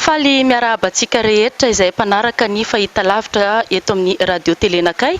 Faly miarahaba antsika rehetra izay mpanaraka ny fahitalavitra eto amin'ny Radio Tele Nakay.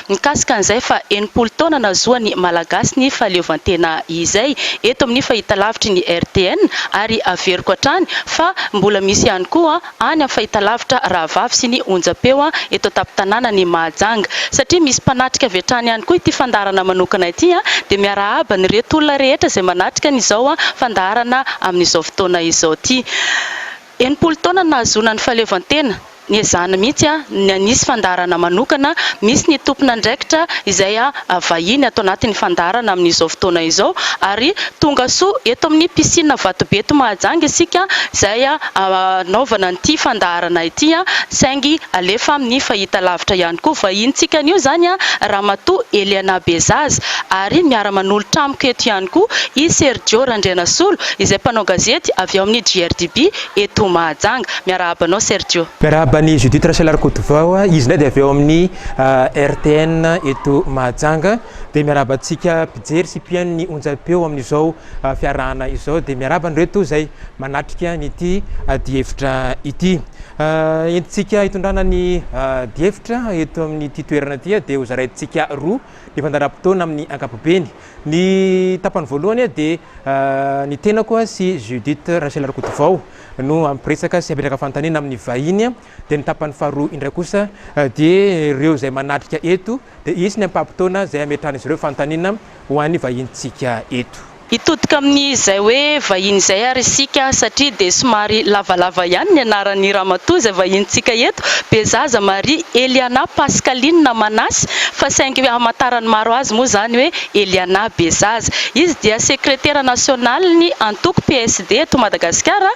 Mikasika an'izay fa enimpolo taona nahazoan'ny Malagasy ny fahaleovantena izay, eto amin'ny fahitalavitry ny RTN, ary averiko hatrany fa mbola misy ihany koa any amin'ny fahitalavitra rahavavy sy ny onjam-peo eto an-tampon-tanànan'i Mahajanga. Satria misy mpanatrika avy hatrany ihany koa ity fandaharana manokana ity dia miarahaba an'ireto olona rehetra izay manatrika an'izao fandaharana amin'izao fotoana izao ity. Enimpolo taona no nahazoana ny fahaleovantena, niezahana mihitsy ny hanisy fandaharana manokana, misy ny tompon'andraikitra izay vahiny ato anatin'ny fandaharana amin'izao fotoana izao ary tonga soa eto amin'ny piscine Vatobe eto Mahajanga isika izay hanaovana an'ity fandaharana ity saingy alefa amin'ny fahitalavitra ihany koa, vahinintsika anio izany Ramatoa Eliana Bezaza ary miara-manolotra amiko eto ihany koa i Sergio Randrianasolo Izay mpanao gazety avy ao amin'ny GRDB eto Mahajanga. Miarahaba anao Sergio. Miarahaba an'i Judith Rachel Rakotovao, izy indray dia avy ao amin'ny RTN eto Mahajanga. Dia miarahaba antsika mpijery sy mpihaino ny onjam-peo amin'izao fiarahana izao. Dia miarahaba an'ireto izay manatrika an'ity adihevitra ity. Entintsika hitondrana ny adihevitra eto amin'ity toerana ity dia hozaraintsika roa ny fandaharam-potoana amin'ny ankapobeny. Ny tapany voalohany dia ny tenako sy Judith Rachel Rakotovao no hampiresaka sy hametraka fanontaniana amin'ny vahiny dia ny tapany faharoa indray kosa dia ireo izay manatrika eto dia hisy ny ampaham-potoana izay hametrahan'izy ireo fanontaniana ho an'ny vahinintsika eto. Hitodika amin'izay hoe vahiny izay ary isika satria dia somary lavalava ihany ny anaran'ny ramatoa izay vahinintsika eto, Bezaza Marie Eliana Pascaline Manasy fa saingy hamantaran'ny maro azy. Izy moa izany hoe Eliana Bezaza. Izy dia sekretera nasionalin'ny antoko PSD eto Madagasikara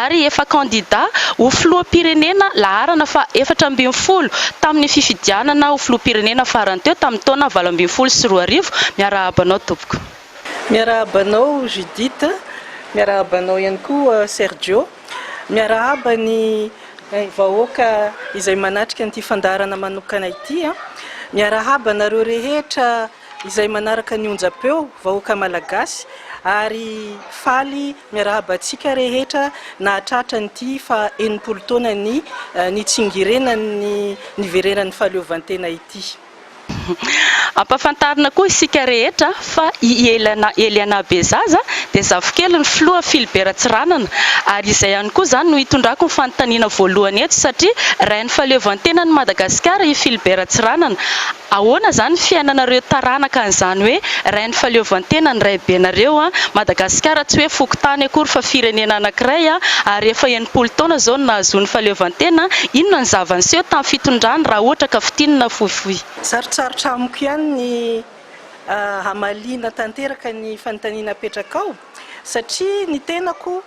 ary efa kandida ho filoham-pirenena laharana faha efatra ambin'ny folo tamin'ny fifidianana ho filoham-pirenena farany teo tamin'ny taona valo ambin'ny folo sy roa arivo. Miarahaba anao tompoko. Miarahaba anao Judith, miarahaba anao ihany koa Sergio. Miarahaba ny vahoaka izay manatrika an'ity fandaharana manokana ity. Miarahaba anareo rehetra izay manaraka ny onjam-peo, vahoaka malagasy, ary faly miarahaba antsika rehetra nahatratra an'ity faha enimpolo taonany nitsingerenan'ny niverenan'ny fahaleovantena ity. Ampahafantarina koa isika rehetra fa i Eliana Eliana Bezaza dia zafikelin'ny filoha Philibert Ratsiranana ary izay ihany koa izany no hitondrako ny fanontaniana voalohany eto satria rain'ny fahaleovantenan'i Madagasikara i Philibert Ratsiranana ahoana izany ny fiainanareo taranaka an'izany hoe rain'ny fahaleovantena ny raibenareo an Madagasikara tsy hoe fokontany akory fa firenena anankiray ary efa Folo taona izao no nahazoany fahaleovantena, inona ny zava-niseho tamin'ny fitondrany raha ohatra ka fintinina fohifohy? Sarotsarotra amiko ihany ny hamaliana tanteraka ny fanontaniana apetrakao satria ny tenako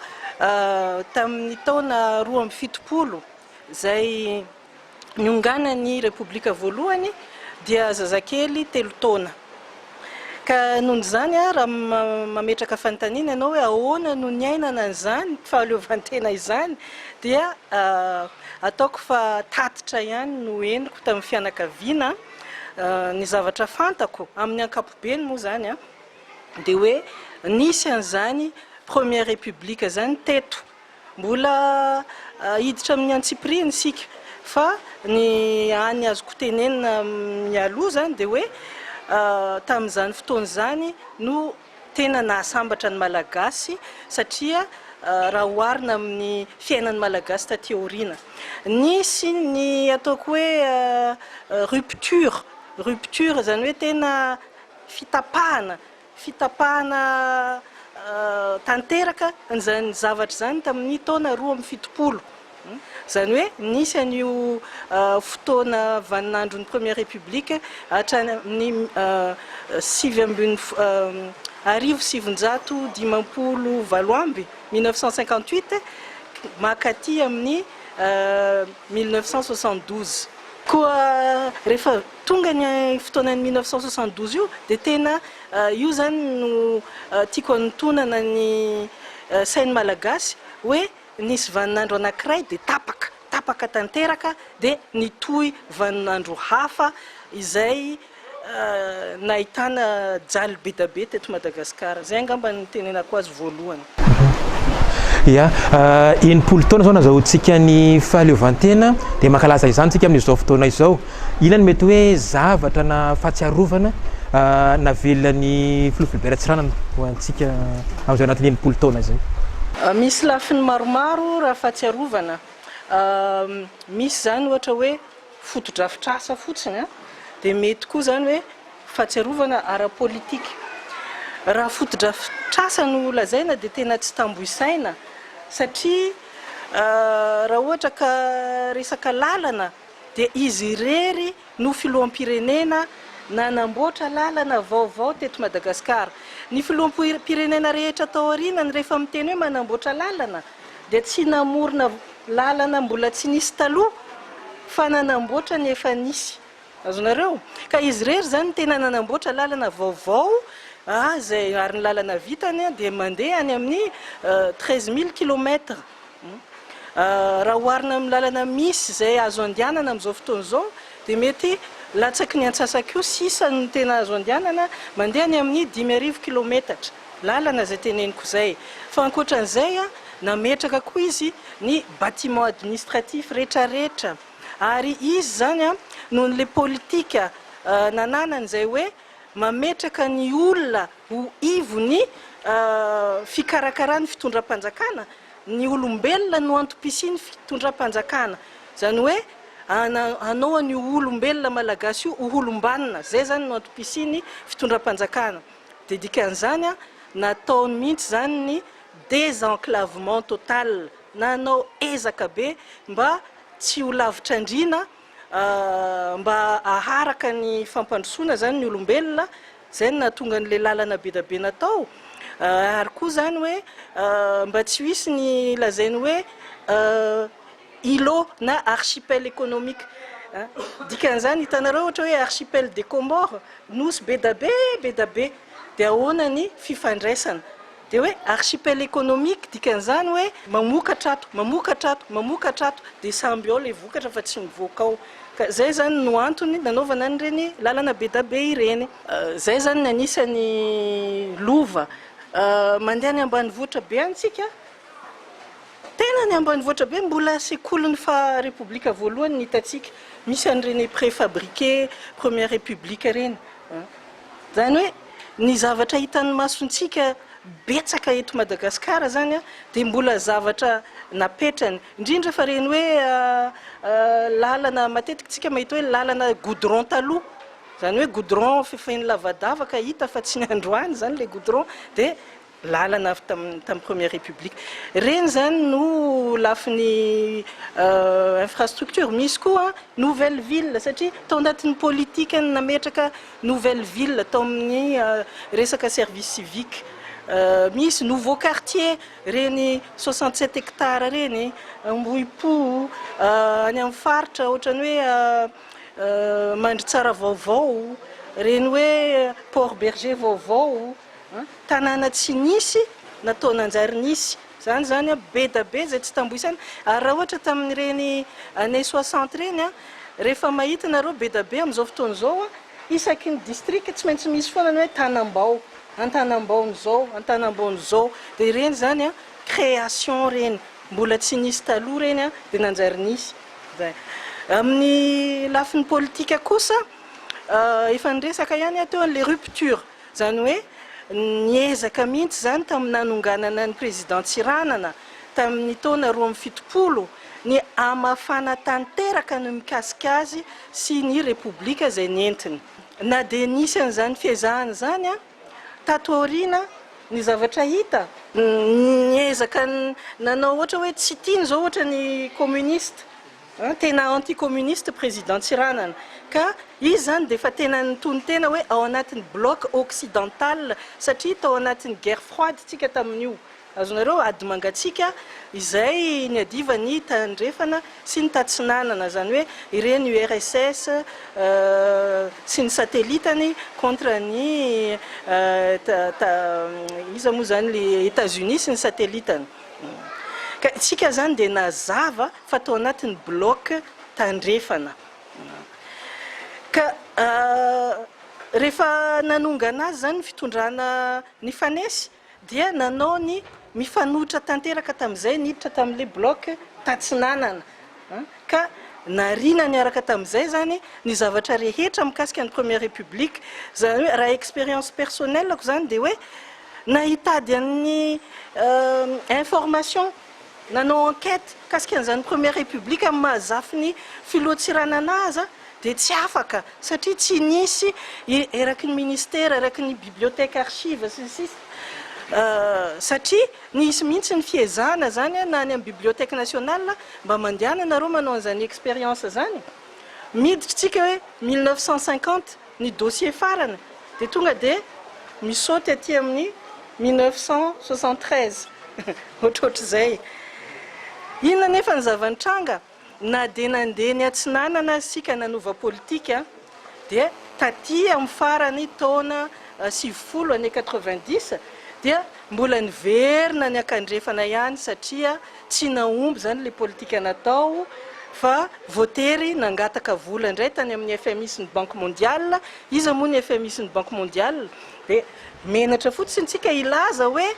tamin'ny taona roa amby fitopolo izay, nionganan'ny Repoblika voalohany dia zazakely telo taona. Ka noho izany, raha mametraka fanontaniana ianao hoe ahoana no niainana an'izany fahaleovantena izany dia ataoko fa tatitra ihany no henoko tamin'ny fianakaviana. Ny zavatra fantako amin'ny ankapobeny moa izany dia hoe nisy an'izany Première République izany teto Mbola hiditra amin'ny antsipiriany isika fa ny hany azoko tenenina mialoha izany dia hoe tamin'izany fotoana izany no tena nahasambatra ny Malagasy satria raha oharina amin'ny fiainan'ny Malagasy taty aoriana. Nisy ny ataoko hoe rupture, rupture izany hoe tena fitapahana. fitapahana tanteraka an'izany zavatra izany tamin'ny taona roa amby fitopolo. Izany hoe nisy an'io fotoana vaninandron'ny Première République hatrany amin'ny sivy ambin'ny arivo sy sivinjato dimampolo valo amby, 1958, mankaty amin'ny mille neuf cent soixante-douze. Koa rehefa Tonga ny fotoanan'ny mille neuf cent soixante douze io dia tena io izany no tiako hanintonana ny sain'ny Malagasy hoe nisy vaninandro anankiray dia tapaka, tapaka tanteraka dia nitohy vaninandro hafa izay nahitana jalo be da be teto Madagasikara. Izay angamba no nitenenako azy voalohany. Ia, enimpolo taona izao nazahoantsika ny fahaleovantena dia mankalaza izany isika amin'izao fotoana izao. Inona no mety hoe zavatra na fahatsiarovana navelona ny Filoha Philbert Ratsiranana ho antsika amin'izao anatin'ny enimpolo taona izay? Misy lafiny maromaro raha fahatsiarovana. Misy izany ohatra hoe fotodrafitrasa fotsiny dia mety koa izany hoe fahatsiarovana ara-politika. Raha fotodrafitrasa no lazaina dia tena tsy tambo isaina satria raha ohatra ka resaka lalana dia izy irery no filoham-pirenena nanamboatra lalana vaovao teto Madagasikara. Ny filoham-pirenena rehetra tao aorianany rehefa miteny hoe manamboatra lalana dia tsy namorona lalana mbola tsy nisy taloha fa nanamboatra ny efa nisy. Azonareo? Ka izy irery izany no tena nanamboatra lalana vaovao izay ary ny lalana vitany dia mandeha any amin'ny treize mille kilomètres. Raha oharina amin'ny lalana misy izay azo andehanana amin'izao fotoana izao dia mety latsaky ny antsasaky io sisa no tena azo andehanana, mandeha any amin'ny dimy arivo kilometatra. Lalana izay teneniko izay. Fa ankoatran'izay, nametraka koa izy ny bâtiments administratifs rehetrarehetra. Ary izy izany noho ilay politika nananany izay hoe mametraka ny olona ho ivon'ny fikarakarana ny fitondram-panjakana, ny olombelona no antom-pisian'ny fitondram-panjakana. Izany hoe hanao an'io olombelona malagasy io ho olom-banona. Izay izany no antom-pisian'ny fitondram-panjakana. Dia dikan'izany, nataony mihitsy izany ny désenclavement total, na hanao ezaka be mba tsy ho lavitr'andriana, mba haharaka ny fampandrosoana izany ny olombelona, izay no nahatonga an'ilay lalana be dia be natao, ary koa izany hoe mba tsy ho hisy ny lazainy hoe. Îlot na archipel économique a. Dikan'izany hitanareo ohatra hoe archipel des Comores, nosy be da be be da be, dia ahoana ny fifandraisana? Dia hoe archipel économique dikan'izany hoe mamokatra ato, mamokatra ato, mamokatra ato, dia samby ao ilay vokatra fa tsy mivoaka ao. Ka izay izany no antony nanaovana an'ireny lalana be da be ireny. Izay izany ny anisan'ny lova mandeha any ambanivohitra be any tsika. Tena ny ambanivohitra be mbola sekolin'ny faha repoblika voalohany ny hitantsika, misy an'ireny préfabriqué première république ireny a. Izany hoe ny zavatra hitan'ny masontsika betsaka eto Madagasikara izany a dia mbola zavatra napetrany, indrindra fa ireny hoe lalana matetika isika mahita hoe lalana goudron taloha, izany hoe goudron fefen'ny lavadavaka hita fa tsy ny androany izany ilay goudron dia. lalana avy tamin'ny première république ireny izany no lafiny infrastructure, misy koa nouvelle ville satria tao anatin'ny politique ny nametraka nouvelle ville tao amin'ny resaka service civique, misy nouveau quartier ireny soixante sept hectares ireny Ambohipo, any amin'ny faritra ohatran'ny hoe Mandritsara vaovao, ireny hoe Port Bergé vaovao. Tanàna tsy nisy na toa nanjary nisy. Izany izany be da be izay tsy tamboho isaina. Ary raha ohatra tamin'ireny années soixante ireny, rehefa mahita ianareo be da be amin'izao fotoana izao, isaky ny district tsy maintsy misy foana ny hoe Tanambao, Antanambaon'izao, Antanambaon'izao. Dia ireny izany création ireny, mbola tsy nisy taloha ireny dia nanjary nisy. Izay. Amin'ny lafiny politika kosa, efa niresaka ihany aho teo ny les ruptures. Izany hoe niezaka mihitsy izany tamin'ny nanonganana ny Président Tsiranana tamin'ny taona roa amby fitopolo ny hamafana tanteraka ny mikasika azy sy ny Repoblika izay nentiny. Na dia nisy an'izany fiezahana izany tato aoriana, ny zavatra hita, niezaka nanao ohatra hoe tsy tiany izao ohatra ny communiste Tena anti communiste président Tsiranana ka izy zany dia efa tena nitonon-tena hoe ao anatin'ny bloc occidental satria tao anatin'ny guerre froide tsika tamin'io azonareo ady mangatsiaka izay niadivan'ny tandrefana sy ny tatsinanana zany hoe ireny URSS sy ny satellitany contre ny iza moa zany le Etats-Unis sy ny satellitany ka itsika zany dia nazava fa tao anatin'ny bloc tandrefana ka rehefa nanongana azy izany ny fitondrana nifanesy dia nanao ny mifanohitra tanteraka tamin'izay niditra tamin'ilay bloc tatsinanana ka nariana niaraka tamin'izay izany ny zavatra rehetra mikasika ny première république izany hoe raha expérience personnelle-ko izany dia hoe na hitady an'ny information Nanao enquête mikasika an'izany première république amin'ny maha zafin'ny filoha Tsiranana aza dia tsy afaka satria tsy nisy eraky ny ministera, eraky ny bibliothèque archives sy ny sisa satria nisy mihitsy ny fiezahana izany na any amin'ny bibliothèque nationale mba mandehana nareo manao an'izany expérience izany e! Miditra isika hoe mille neuf cent cinquante. ny dossier farany dia tonga dia mi-saute aty amin'ny mille neuf cent soixante treize ohatrohatr'izay. Inona anefa ny zava-nitranga? Na dia nandeha ny Atsinanana aza isika nanova politika dia taty amin'ny faran'ny taona sivifolo, année quatre-vingt-dix, dia mbola niverina ny Ankandrefana ihany satria Tsy nahomby izany ilay politika natao fa voatery nangataka vola indray tany amin'ny FMI sy ny Banque Mondiale. Iza moa ny FMI sy ny Banque Mondiale? Dia menatra fotsiny isika hilaza hoe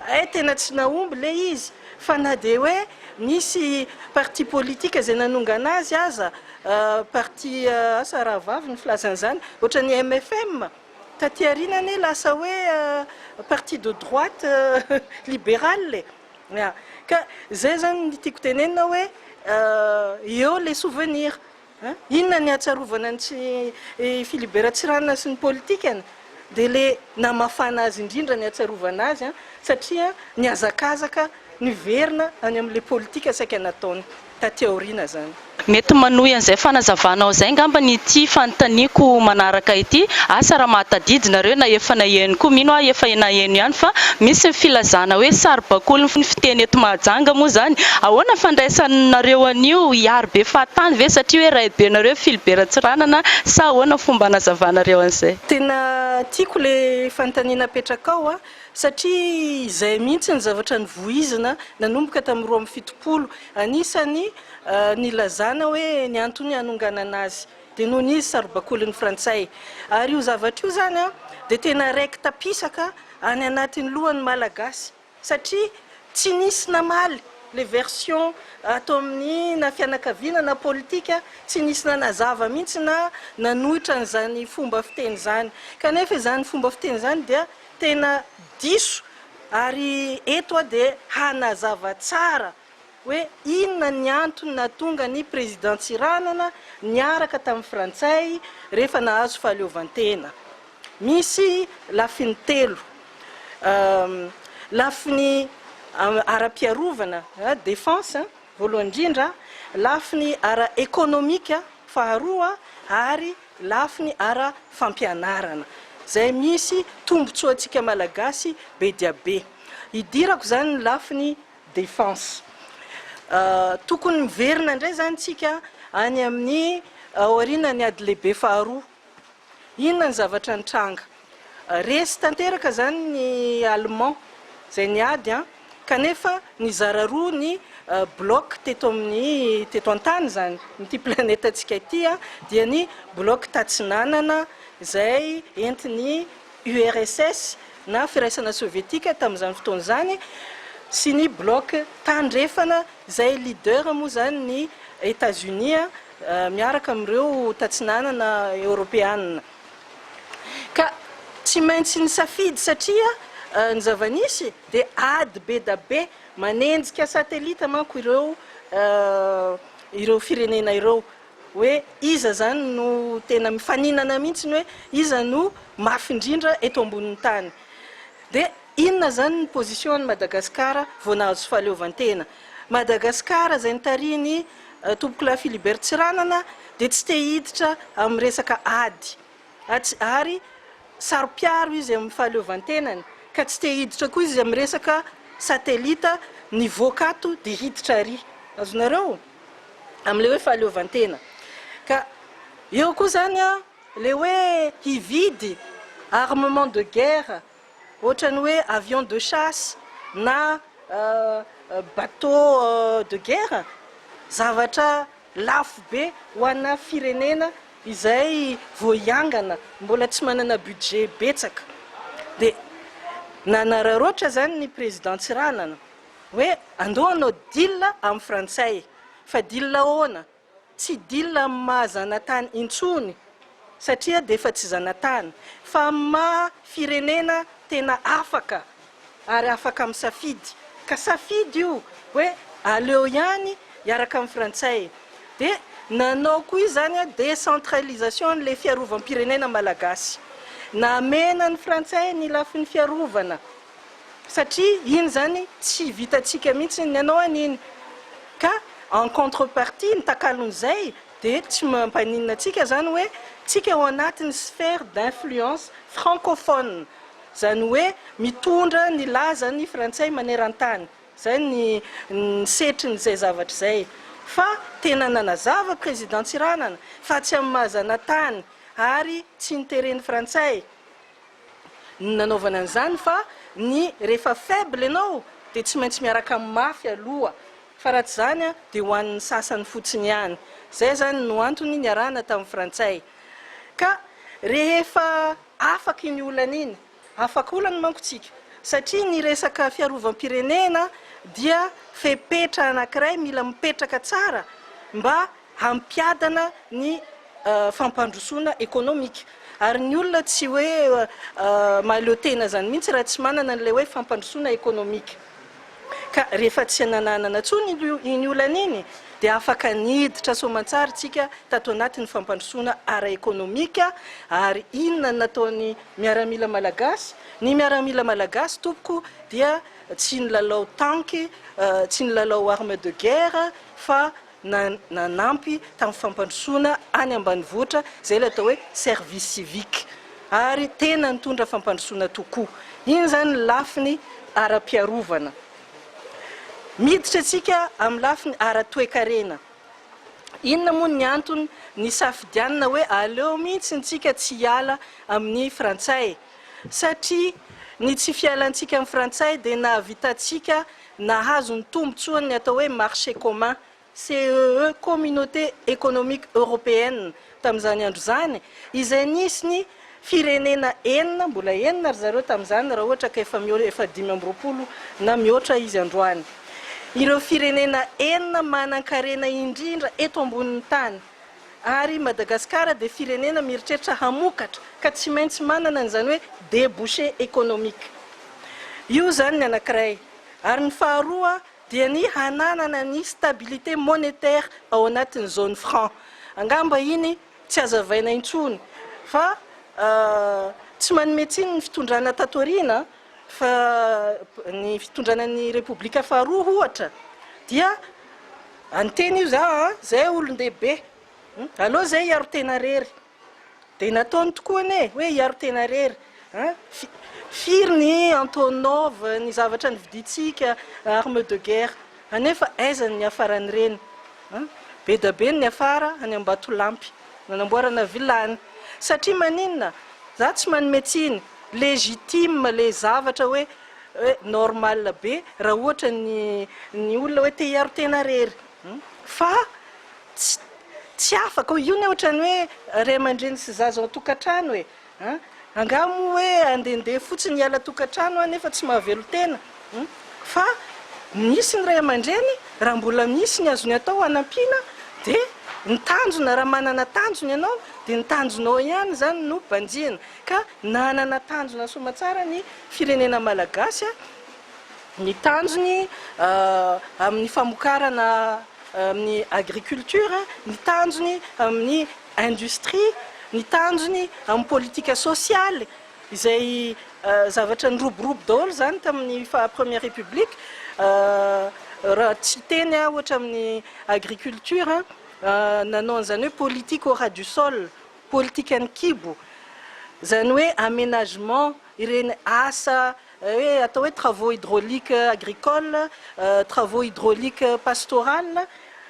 hay tena tsy nahomby ilay izy. Fa na dia hoe nisy parti politika izay nanongana azy aza, parti asa rahavavy no filaza an'izany, ohatran'ny mfm, taty aoriana anie lasa hoe parti de droite libérale e! Ya, ka zay zany ny tiako tenenina hoe eo le souvenir a! Inona ny ahatsiarovana ny tsy i Philibe Ratsiranona sy ny politikany? Dia le namafana azy indrindra ny ahatsiarovana azy a! satria nihazakazaka niverina any amin'le politika saika nataony. taty aoriana izany. Mety manohy an'izay fanazavanao izay angamba ny ity fanontaniako manaraka ity, asa raha mahatadidy nareo na efa naheno koa, mino aho efa naheno ihany fa misy ny filazana hoe saribakolin'ny ny fiteny eto Mahajanga moa izany, ahoana fandraisanareo an'io? hiaro be fahatany ve satria hoe raibenareo Filibe Ratsiranana sa ahoana fomba anazavanareo an'izay? Tena tiako ilay fanontaniana apetrakao an! satria izay mihitsy ny zavatra nivoizina nanomboka tamin'ny roa amby fitopolo, anisany nilazana hoe ny antony hanonganana azy dia noho ny saro-bakolin'ny frantsay, ary io zavatra io izany dia tena raiki-tapisaka any anatin'ny lohan'ny Malagasy satria tsy nisy namaly ilay version ato amin'ny na fianakaviana na politika, tsy nisy nanazava mihitsy na nanohitra an'izany fomba fiteny izany, kanefa izany fomba fiteny izany dia. Tena diso ary eto aho dia hanazava tsara hoe inona ny antony nahatonga ny Président Tsiranana niaraka tamin'ny Frantsay rehefa nahazo fahaleovantena. Misy lafiny telo, lafiny ara-piarovana, defense, Voalohany indrindra, lafiny ara-ekonomika, faharoa ary lafiny ara-fampianarana, izay misy tombontsoantsika Malagasy be dia be. Hidirako izany ny lafiny defense. Tokony miverina indray izany isika any amin'ny aorianan'ny ady lehibe faharoa. Inona ny zavatra nitranga? Resy tanteraka izany ny Allemands izay niady an! Kanefa nizara roa ny bloc teto amin'ny teto an-tany izany, amin'ity planetantsika ity an! Dia ny bloc tatsinanana izay entin'ny URSS na Firaisana Sovietika tamin'izany fotoana izany sy ny bloc tandrefana izay leader moa izany ny Etats-Unis an! miaraka amin'ireo tatsinanana eoropeanina ka tsy maintsy nisafidy satria ny zava-nisy dia ady be da be, manenjika satelita manko ireo ireo firenena ireo hoe iza izany no tena mifaninana mihintsy ny hoe iza no mafy indrindra eto ambonin'ny tany dia inona izany ny position an'i Madagasikara vao nahazo fahaleovantena Madagasikara izay nitarihin'i Tompokolahy Philibert Tsiranana dia tsy te hiditra amin'ny resaka ady ary saro-piaro izy amin'ny fahaleovantenany ka tsy te hiditra koa izy amin'ny resaka satelita nivoaka ato dia hiditra ary, azonareo? amin'ilay hoe fahaleovantena. Ka eo koa izany ilay hoe hividy armement de guerre. Ohatran'ny hoe avion de chasse na bateau de guerre, zavatra lafo be ho ana firenena izay vao hiangana, mbola tsy manana budget betsaka. Dia nanararaotra izany ny Président Tsiranana hoe andao hanao deal amin'ny frantsay. Fa deal ahoana? Tsy deal amin'ny maha zanatany intsony satria dia efa tsy zanatany fa amin'ny maha firenena tena afaka ary afaka misafidy ka safidy io hoe aleo ihany hiaraka amin'ny frantsay dia nanao koa izany décentralisation an'ilay fiarovam-pirenena malagasy namena ny frantsay ny lafiny fiarovana satria iny zany tsy vitantsika mihitsy, ny anao an iny ka en contre partie ny takalon'izay dia tsy mampaninona antsika zany hoe tsika ao anatin'ny sphère d'influence francophone zany hoe mitondra ny lazan'ny frantsay manerantany zay ny ny setrin'izay zavatra izay fa tena nanazava président Tsiranana fa tsy amin'ny maha zanatany ary tsy ny teren'ny frantsay no nanaovana an'izany fa ny rehefa faible ianao dia tsy maintsy miaraka amin'ny mafy aloha fa raha tsy izany dia ho an'ny sasany fotsiny ihany. Izay izany no antony niarahana tamin'ny frantsay. Ka rehefa afaka iny olana iny, afaka olana manko tsika satria ny resaka fiarovam-pirenena dia fepetra anankiray mila mipetraka tsara mba hampiadana ny fampandrosoana ekonomika ary ny olona tsy hoe mahaleo tena izany mihitsy raha tsy manana an'ilay hoe fampandrosoana ekonomika ka rehefa tsy nananana intsony iny olana iny dia afaka niditra soamantsara isika tato anatin'ny fampandrosoana ara ekonomika ary inona ny nataon'ny miaramila malagasy ny miaramila malagasy tompoko dia tsy nilalao tanky tsy nilalao arme de guerre fa na nanampy tamin'ny fampandrosoana any ambanivohitra izay ilay atao hoe service civique ary tena nitondra fampandrosoana tokoa. Iny izany ny lafiny ara-piarovana. Miditra isika amin'ny lafiny ara-toekarena. Inona moa ny antony nisafidianina hoe aleo mihitsy isika tsy hiala amin'ny frantsay? Satria ny tsy fialantsika amin'ny frantsay dia nahavitantsika Nahazo ny tombontsoany ny atao hoe Marché commun, CEE, Communauté économique européenne, tamin'izany andro izany, izay nisy ny firenena enina, mbola enina ry zareo tamin'izany raha ohatra ka efa mihoatra, efa dimy amby roapolo na mihoatra izy androany, ireo firenena enina manan-karena indrindra eto ambonin'ny tany. Ary Madagascar dia firenena mieritreritra hamokatra ka tsy maintsy manana an'izany hoe debouché économique io zany ny anankiray. Ary ny faharoa dia ny hananana ny stabilité monétaire ao anatin'ny zone franc. Angamba iny tsy hazavaina intsony fa tsy manome tsiny ny fitondrana tato aoriana Fa ny fitondrana ny Repoblika faharoa ohatra dia any teny io za a, zay olon-dehibe, aleo zay hiaro tena rery, dia nataony tokoa anie e, hoe hiaro tena rery a, firy ny Antonov, ny zavatra nividintsika, armes de guerre, anefa aiza ny niafaran'ireny a, be dia be ny niafara any Ambatolampy, nanamboarana villa any, satria maninona za tsy manome tsiny. Legitime le zavatra hoe hoe normal be raha ohatra ny ny olona hoe te hiaro tena rery fa tsy tsy afaka hoe io ny ohatrany hoe ray aman-dreny sy zaza ao an-tokantrano e an! angaha moa hoe andehandeha fotsiny hiala tokantrano an nefa tsy mahavelon-tena an! fa misy ny ray aman-dreny raha mbola misy ny azony atao hanampiana dia ny tanjona raha manana tanjona ianao dia ny tanjonao ihany izany no banjihina. ka nanana tanjona soamantsara ny firenena malagasy, ny tanjony amin'ny famokarana amin'ny agriculture, ny tanjony amin'ny industrie, ny tanjony amin'ny politika sosialy, izay zavatra niroborobo daholo izany tamin'ny faha première république, raha tsy hiteny aho ohatra amin'ny agriculture, nanao an'izany hoe politique au ras du sol, Politikan'ny kibo, izany hoe aménagement ireny asa hoe atao hoe travaux hydrauliques agricoles, travaux hydrauliques pastorales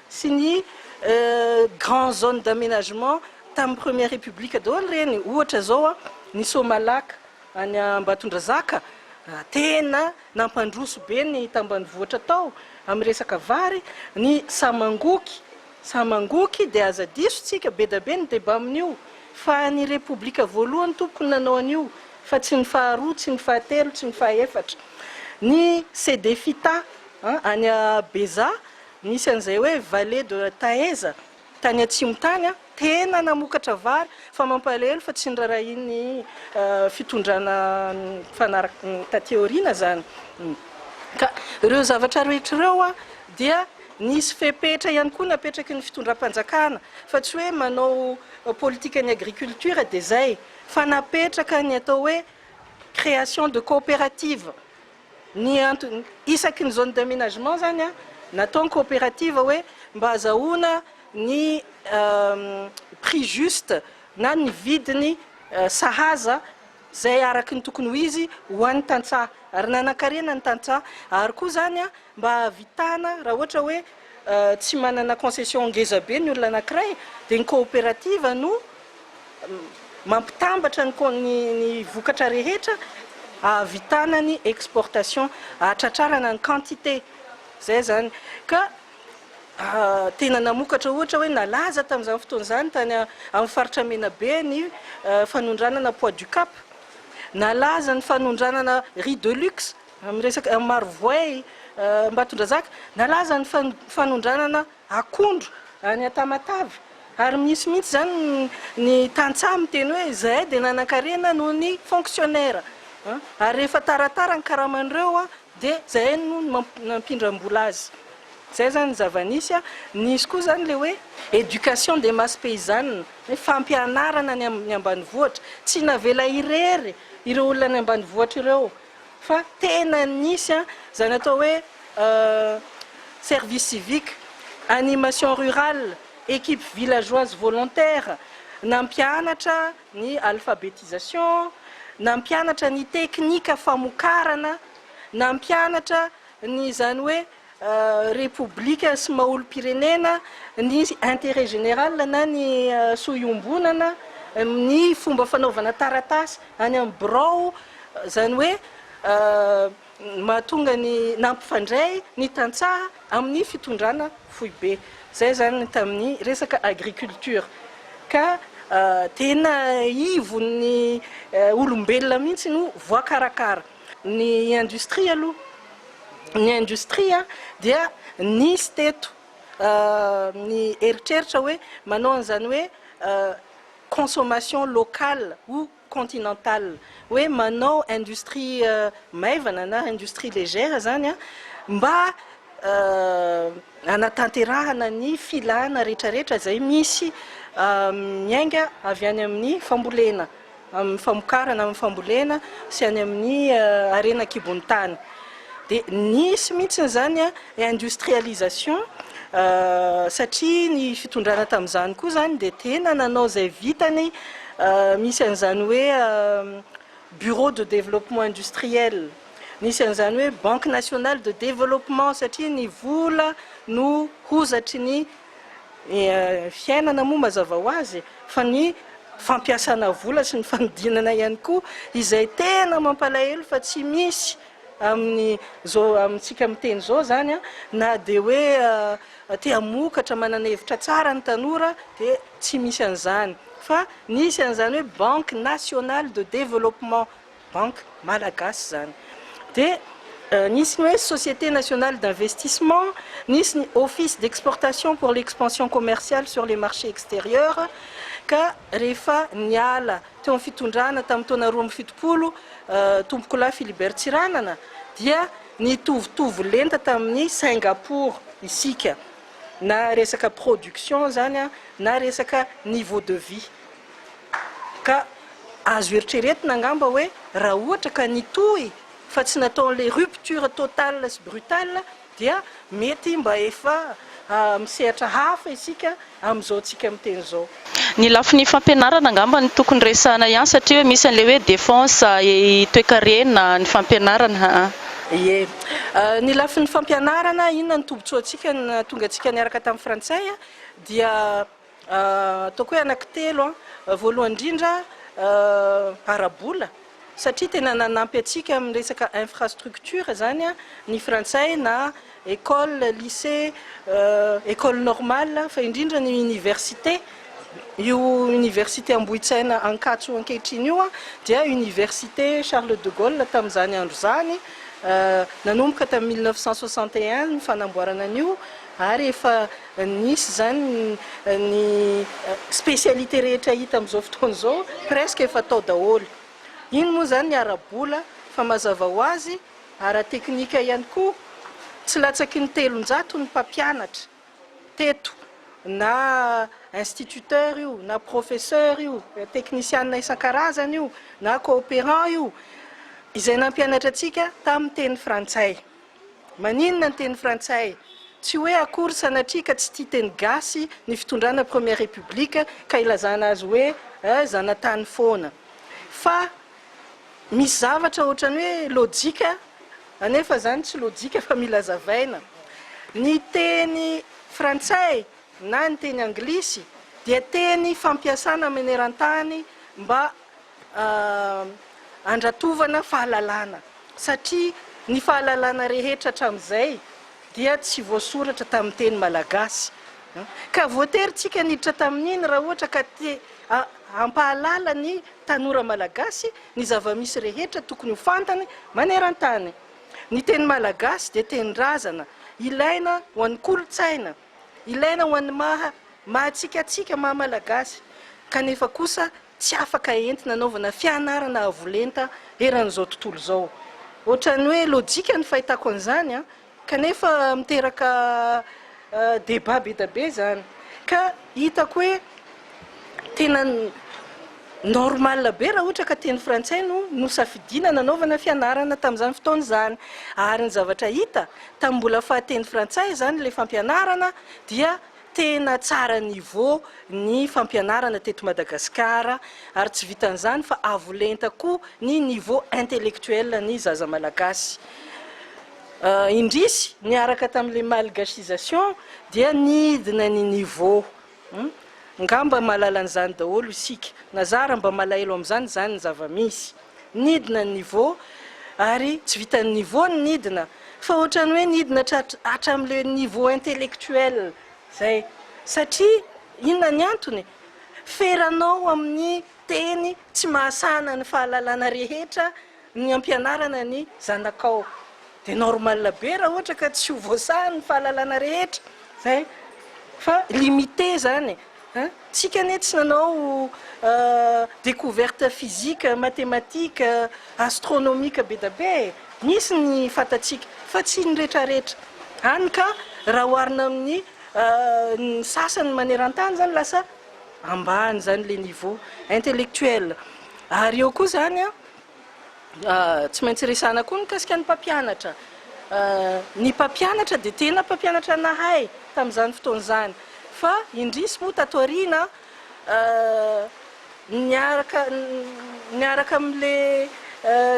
sy ny grands zones d'aménagement tamin'ny première république daholo ireny. Ohatra izao ny Somalac any Ambatondrazaka tena nampandroso be ny tambanivohitra tao amin'ny resaka vary, ny Samangoky, Za mangoky dia aza diso tsika bedabe ny debat amin'io fa ny repoblika voalohany tompoko ny nanao an'io fa tsy ny faharoa tsy ny fahatelo tsy ny fahefatra ny cdefita an any a beza nisy an'izay hoe vale de taheza tany atsimo tany an tena namokatra vary fa mampalahelo fa tsy nirarahian'ny fitondrana mifanarak taty aoriana zany ka ireo zavatra rehetra ireo an dia Nisy fepetra ihany koa napetraky ny fitondram-panjakana fa tsy hoe manao politikan'ny agriculture dia izay fa napetraka ny atao hoe création de coopérative ny antony isaky ny zone d'aménagement izany an natao ny coopérative hoe mba azahoana ny prix juste na ny vidiny sahaza izay araka ny tokony ho izy ho an'ny tantsaha ary nanankarena ny tantsaha ary koa izany mba hahavitana raha ohatra hoe tsy manana concession ngeza be ny olona anankiray dia ny coopérative no mampitambatra ny con ny ny vokatra rehetra hahavitana ny exportation hahatratrarana ny quantité izay izany ka Tena namokatra ohatra hoe nalaza tamin'izany fotoana izany tany amin'ny faritra Menabe ny fanondranana Poids du Cap. Nalaza ny fanondranana Riz de Luxe amin'ny resaka Marovoay Ambatondrazaka. Nalaza ny fanondranana akondro any Antamatave. Ary misy mihitsy izany ny tantsaha miteny hoe izahay dia nanan-karena noho ny fonctionnaires. Ary rehefa taratara ny karaman'ireo Dia izay no nampindram-bola azy. Izay izany ny zava-nisy a. Nisy koa izany ilay hoe éducation des masses paysannes, hoe fampianarana ny ambanivohitra. Tsy navela irery ireo olona any ambanivohitra ireo fa tena nisy a, izany atao hoe service civique, animation rurale, équipe villageoise volontaire, nampianatra. ny alphabetisation, nampianatra ny teknika famokarana, nampianatra ny izany hoe repoblika sy maha-olom-pirenena, ny intérêt général na ny soa iombonana, ny fomba fanaovana taratasy any amin'ny birao, izany hoe. ny mahatonga ny nampifandray ny tantsaha amin'ny fitondrana foibe. Izay izany ny tamin'ny resaka agriculture. Ka tena ivon'ny olombelona mihitsy no voakarakara. Ny industrie aloha, ny industrie dia nisy teto ny eritreritra hoe manao an'izany hoe consommation locale ou. continental hoe manao industrie maivana na industrie légère zany mba hanatanterahana ny filana retraretra izay misy miainga avy any amin'ny fambolena amin'ny famokarana amin'ny fambolena sy any amin'ny harena an-kibon'ny tany dia nisy mihitsy izany industrialisation satria ny fitondrana tamin'izany koa izany dia tena nanao izay vitany misy an'izany hoe bureau de développement industriel nisy an'izany hoe banque nationale de développement satria ny vola no hozatry ny fiainana moa mazava ho azy fa ny fampiasana vola sy ny fanodinana ihany koa izay tena mampalahelo fa tsy misy Amin'ny zao amintsika miteny zao zany a, na dia hoe te hamokatra manana hevitra tsara ny tanora dia tsy misy an'izany fa nisy an'izany hoe banque nationale de développement, banque malagasy zany dia nisy ny hoe société nationale d'investissement, nisy ny office d'exportation pour l'expansion commerciale sur les marchés extérieurs ka rehefa niala teo amin'ny fitondrana tamin'ny taona roa amby fitopolo Tompokolahy Philibert Tsiranana dia nitovitovy lenta tamin'ny Singapour isika na resaka production izany an na resaka niveau de vie ka azo eritreretina angamba hoe raha ohatra ka nitohy fa tsy nataon'ilay rupture totale sy brutale dia mety mba efa amin'ny sehatra hafa isika amin'izao tsika miteny izao. Ny lafiny fampianarana angamba no tokony resahana ihany satria hoe misy an'ilay hoe défense et toekarena ny fampianarana aa. Ie. Ny lafiny fampianarana inona no tombotsoantsika nahatonga antsika niaraka tamin'ny frantsay dia. Ataoko hoe anaky telo, voalohany indrindra ara-bola satria tena nanampy antsika amin'ny resaka infrastructure zany ny frantsay na école, lycée, école normale fa indrindra ny université, io université Ambohitsaina Ankatso ankehitriny io dia université Charles de Gaulle tamin'izany andro izany, nanomboka tamin'ny mille neuf cent soixante et un ny fanamboarana an'io. ary efa nisy izany ny spécialité rehetra hita amin'izao fotoana izao presque efa tao daholo, iny moa izany ny ara-bola fa mazava ho azy ara-teknika ihany koa tsy latsaky ny telonjato ny mpampianatra teto na instituteur io na professeur io teknisianina isan-karazany io na coopérant io izay nampianatra antsika tamin'ny teny frantsay. Maninona ny teny frantsay? Tsy hoe akory sanatria ka tsy tia teny gasy ny fitondrana première république ka ilazana azy hoe eh zanatany foana. Fa misy zavatra ohatrany hoe lojika anefa zany tsy lojika fa mila zavaina. Ny teny frantsay na ny teny anglisy dia teny fampiasana manerantany mba handratovana fahalalana satria ny fahalalana rehetra hatramin'izay dia tsy voasoratra tamin'ny teny malagasy ka voatery tsika niditra tamin'iny raha ohatra ka te hampahalala ny tanora malagasy ny zava-misy rehetra tokony ho fantany maneran-tany. Ny teny malagasy dia tenin-drazana, ilaina ho an'ny kolontsaina, ilaina ho an'ny maha maha tsika tsika maha malagasy kanefa kosa tsy afaka entina anaovana fianarana avo lenta eran'izao tontolo izao. Ohatran'ny hoe lojika ny fahitako an'izany an! Kanefa miteraka débat be dia be izany. Ka hitako hoe tena normal be raha ohatra ka teny frantsay no nosafidiana nanaovana fianarana tamin'izany fotoana izany. Ary ny zavatra hita, tamin'ny mbola faha teny frantsay izany ilay fampianarana dia. Tena tsara niveau ny fampianarana teto Madagasikara ary tsy vitan'izany fa avo lenta koa ny niveau intellectuel ny zaza malagasy. Indrisy, niaraka tamin'ilay malgasisation dia nidina ny niveau. Angamba mahalala an'izany daholo isika. Na zara mba malahelo amin'izany izany ny zava-misy. Nidina ny niveau ary tsy vitan'ny niveau ny nidina fa ohatran'ny hoe nidina hatramin'le niveau intellectuel zay satria inona ny antony? feranao amin'ny teny tsy mahasahana ny fahalalana rehetra ny ampianarana ny zanakao de normal be raha ohatra ka tsy ho voasahany ny fahalalana rehetra zay fa limite zany e! Tsika anie tsy nanao découverte physique, mathématique, astronomique be da be e! Misy ny fantatsika fa tsy ny retraretra, hany ka raha oharina amin'ny ny sasany manerantany zany lasa ambany zany le niveau intellectuel ary eo koa zany a, Tsy maintsy resahana koa ny mikasika ny mpampianatra. Ny mpampianatra dia tena mpampianatra nahay tamin'izany fotoana izany. Fa indrisy moa tato aoriana, niaraka niaraka amin'ilay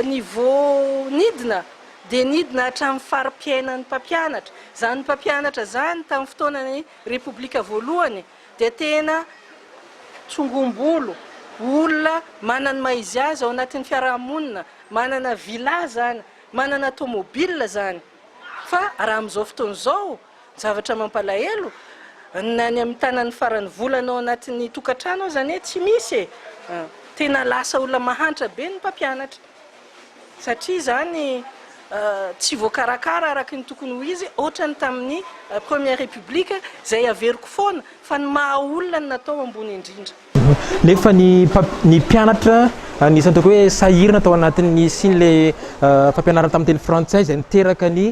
niveau nidina, dia nidina hatramin'ny fari-piainan'ny mpampianatra. Izany mpampianatra izany tamin'ny fotoanan'ny Repoblika voalohany, dia tena tsongombolo, olona manana ny maha izy azy ao anatin'ny fiarahamonina, manana villa izany, manana tomobile izany. Fa raha amin'izao fotoana izao, ny zavatra mampalahelo, na ny amin'ny tanan'ny faran'ny volana ao anatin'ny tokantrano aza anie tsy misy e! Tena lasa olona mahantra be ny mpampianatra. satria izany tsy voakarakara araka ny tokony ho izy ohatran'ny tamin'ny première république izay averiko foana fa ny maha olona no natao ambony indrindra. Nefa ny ny mpianatra anisan'ny ataoko hoe sahirana tao anatin'ny hisian'ilay fampianarana tamin'ny teny frantsay izay niteraka ny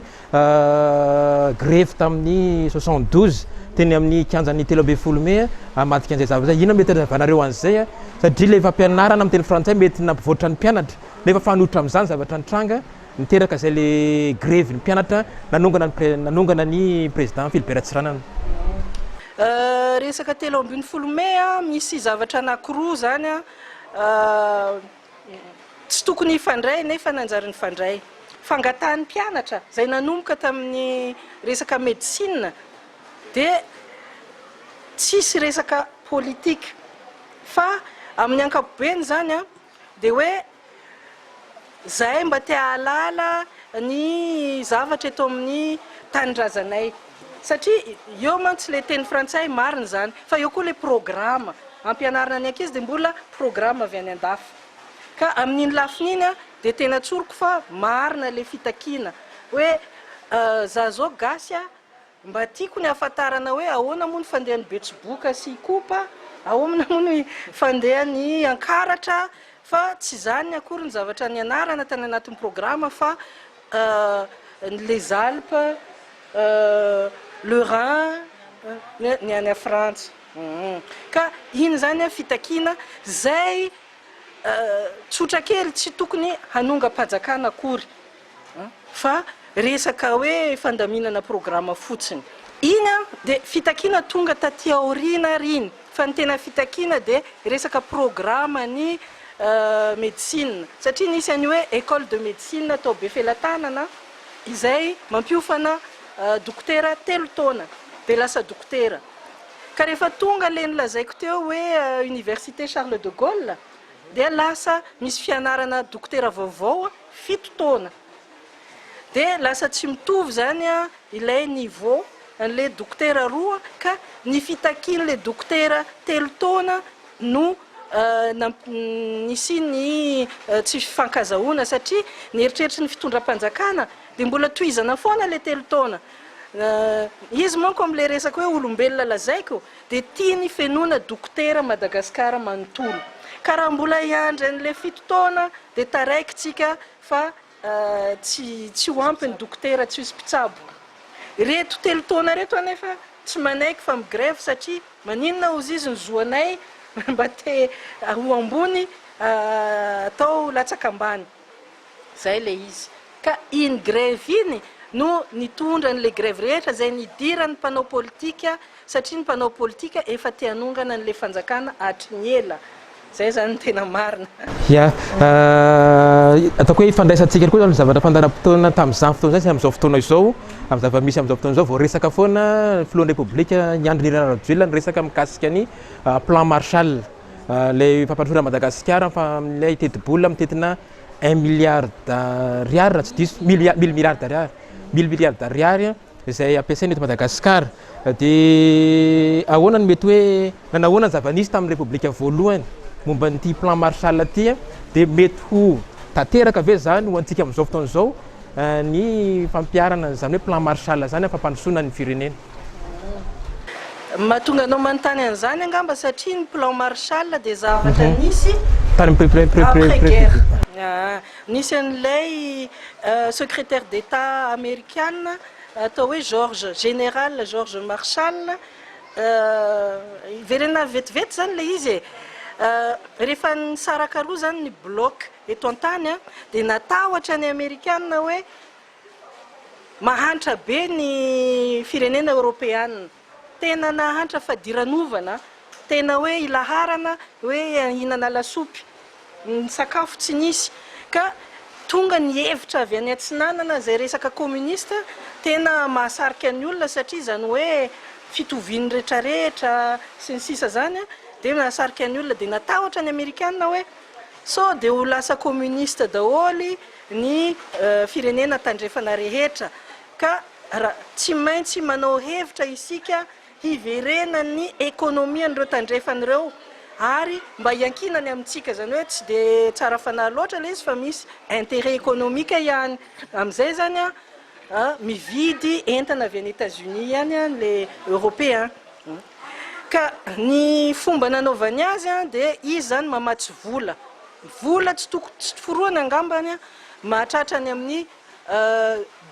grevy tamin'ny soixante douze teny amin'ny kianjan'ny telo ambin'ny folo mey hamadika an'izay zavatra izay. Inona mety hazavanareo an'izay satria ilay fampianarana amin'ny teny frantsay mety nampivoatra ny mpianatra nefa fanoitra amin'izany zavatra nitranga niteraka izay ilay grevy ny mpianatra nanongana ny pre- nanongana ny président Philbert Tsiranana. Resaka telo ambin'ny folo mey, misy zavatra anankiroa izany. Tsy tokony hifandray nefa nanjary nifandray. Fangatahan'ny mpianatra izay nanomboka tamin'ny resaka medecine dia tsisy resaka politique fa amin'ny ankapobeny izany dia hoe izahay mba te hahalala ny zavatra eto amin'ny tanindrazanay. Satria eo mantsy ilay teny frantsay, marina izany, fa eo koa ilay programa ampianarina ny ankizy dia mbola programa avy any an-dafy. Ka amin'iny lafiny iny dia tena tsoriko fa marina ilay fitakiana hoe za izao gasy mba tiako ny hahafantarana hoe ahoana moa ny fandehan'ny betsiboka sy ikopa, ahomna moa ny fandehan'ny ankaratra fa tsy izany akory ny zavatra nianarana tany anatin'ny programa fa Ah, ny les Alpes, ah, le Rhin, ah, ny any Frantsa. Hum. Ka iny izany an, fitakiana izay tsotra kely tsy tokony hanongam-pajakana akory fa resaka hoe fandaminana programa fotsiny. Iny an, dia fitakiana tonga taty aoriana ary iny. Fa ny tena fitakiana dia resaka programa ny medecine satria nisy an'io hoe ecole de medecine tao Befelatanana izay mampiofana dokotera telo taona dia lasa dokotera ka rehefa tonga ilay nolazaiko teo hoe université Charles de Gaulle dia lasa misy fianarana dokotera vaovao fito taona. Dia lasa tsy mitovy izany ilay niveau an'ilay dokotera roa ka ny fitakian'ilay dokotera telo taona no nisian'ny tsy fifankazahoana satria ny eritreritry ny fitondram-panjakana dia mbola tohizana foana ilay telo taona. Izy manko amin'ilay resaka hoe olombelona lazaiko dia tiany fenoina dokotera Madagascar manontolo ka raha mbola hiandry an'ilay fito taona dia taraiky tsika Fa tsy tsy ho ampy ny dokotera tsy misy mpitsabo. Ireto telo taona ireto anefa tsy manaiky fa mi-grève satria maninona hozy izy ny zo anay mba te ho ambony atao latsaka ambany. Izay ilay izy. Ka iny grève iny no nitondra an'ilay grève rehetra izay nidiran'ny mpanao politika Satria ny mpanao politika efa te hanongana an'ilay fanjakana hatry ny ela. Izay izany no tena marina. Ya. Ataoko hoe ifandraisantsika aloha ny zavatra fandaharam-potoana tamin'izany fotoana izany sy amin'izao fotoana izao, amin'ny zava-misy amin'izao fotoana izao. Vao resaka foana ny filohan'ny Repoblika, i Andry Nirina Rajoelina niresaka mikasika ny Plan Marshall, ilay fampandrosoana an'i Madagasikara amin'ilay tetibola mitentina un milliard d'ariary raha tsy diso, mille milliards d'ariary, mille milliards d'ariary. izay ampiasaina eto Madagasikara. Dia ahoana no mety hoe na nahoana ny zava-nisy tamin'ny Repoblika voalohany momba an'ity Plan Marshall ity? Dia mety ho tanteraka ve izany ho antsika amin'izao fotoana izao ny fampiharana an'izany hoe Plan Marshall izany amin'ny fampandrosoana ny firenena? Ny mahatonga anao manontany an'izany angamba satria ny Plan Marshall dia zavatra nisy après guerre. Nisy an'ilay Secrétaire d'Etat Amerikana atao hoe George, Général George Marshall, hiverenana vetivety izany ilay izy e! rehefa nisaraka roa izany ny bloc eto an-tany an, dia natahotra ny Amerikana hoe mahantra be ny firenena Eoropeana. Tena nahantra fadiranovana, tena hoe ilaharana hoe hihinana lasopy, ny sakafo tsy nisy ka tonga ny hevitra avy any atsinanana izay resaka communiste tena mahasarika ny olona satria izany hoe fitovian'ny retraretra sy ny sisa izany dia nahasarika ny olona dia natahotra ny amerikana hoe sao dia ho lasa communiste daholo ny firenena tandrefana rehetra Ka ra tsy maintsy manao hevitra isika hiverenan'ny économie an'ireo tandrefana ireo ary mba hiankinany amintsika, izany hoe tsy dia tsara fanahy loatra ilay izy fa misy intérêt économique ihany, amin'izay izany an mividy entana avy any Etats Unis ihany an ilay européen, ka ny fomba nanaovany azy an dia izy izany mamatsy vola, vola tsy tokony tsy forohana angambany an mahatratra any amin'ny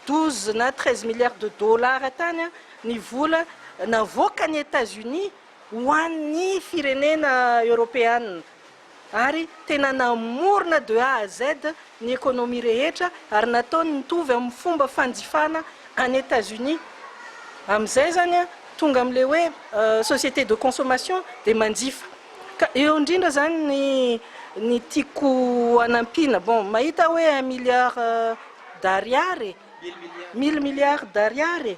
douze na treize milliards de dollars tany ny vola navoakan'i Etats-Unis ho an'ny firenena eoropeana ary tena namorona de A à Z ny économie rehetra ary nataony nitovy amin'ny fomba fanjifana an'i Etats-Unis amin'izay izany tonga amin'ilay hoe société de consommation dia manjifa Ka eo indrindra zany ny ny tiako hanampiana, bon mahita hoe un milliard d'ariary e, mille milliards d'ariary e,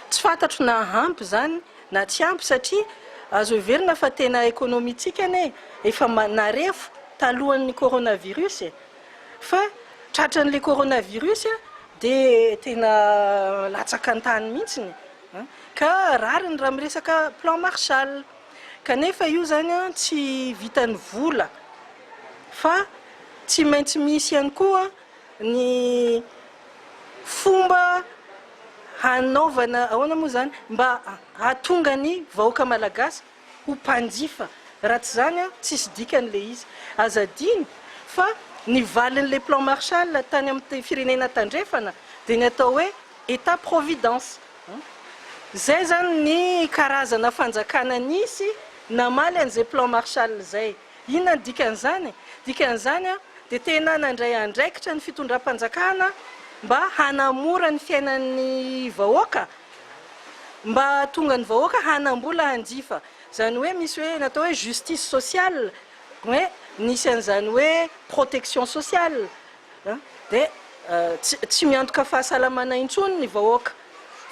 tsy fantatro na ampy zany na tsy ampy satria azo heverina fa tena economie-tsika anie efa narefo talohan'ny coronavirus e, fa tratran'le coronavirus dia tena latsaka an-tany mihitsiny. Ka rariny raha miresaka plan Marshall. Kanefa io izany tsy vitan'ny vola fa tsy maintsy misy ihany koa ny fomba hanaovana, ahoana moa izany, mba hahatonga ny vahoaka malagasy, ho mpanjifa raha tsy izany an tsisy dikany ilay izy. Aza adino fa ny valin'ilay plan Marshall tany amin'ny firenena tandrefana dia ny atao hoe Etat providence. Izay izany ny karazana fanjakana nisy namaly an'izay plan Marshall izay. Inona no dikan'izany? Dikan'izany dia tena nandray andraikitra ny fitondram-panjakana mba hanamora ny fiainan'ny vahoaka, mba hahatonga ny vahoaka hanam-bola hanjifa. Izany hoe misy hoe natao hoe justice sociale, hoe nisy an'izany hoe protection sociale. dia tsy miantoka fahasalamana intsony ny vahoaka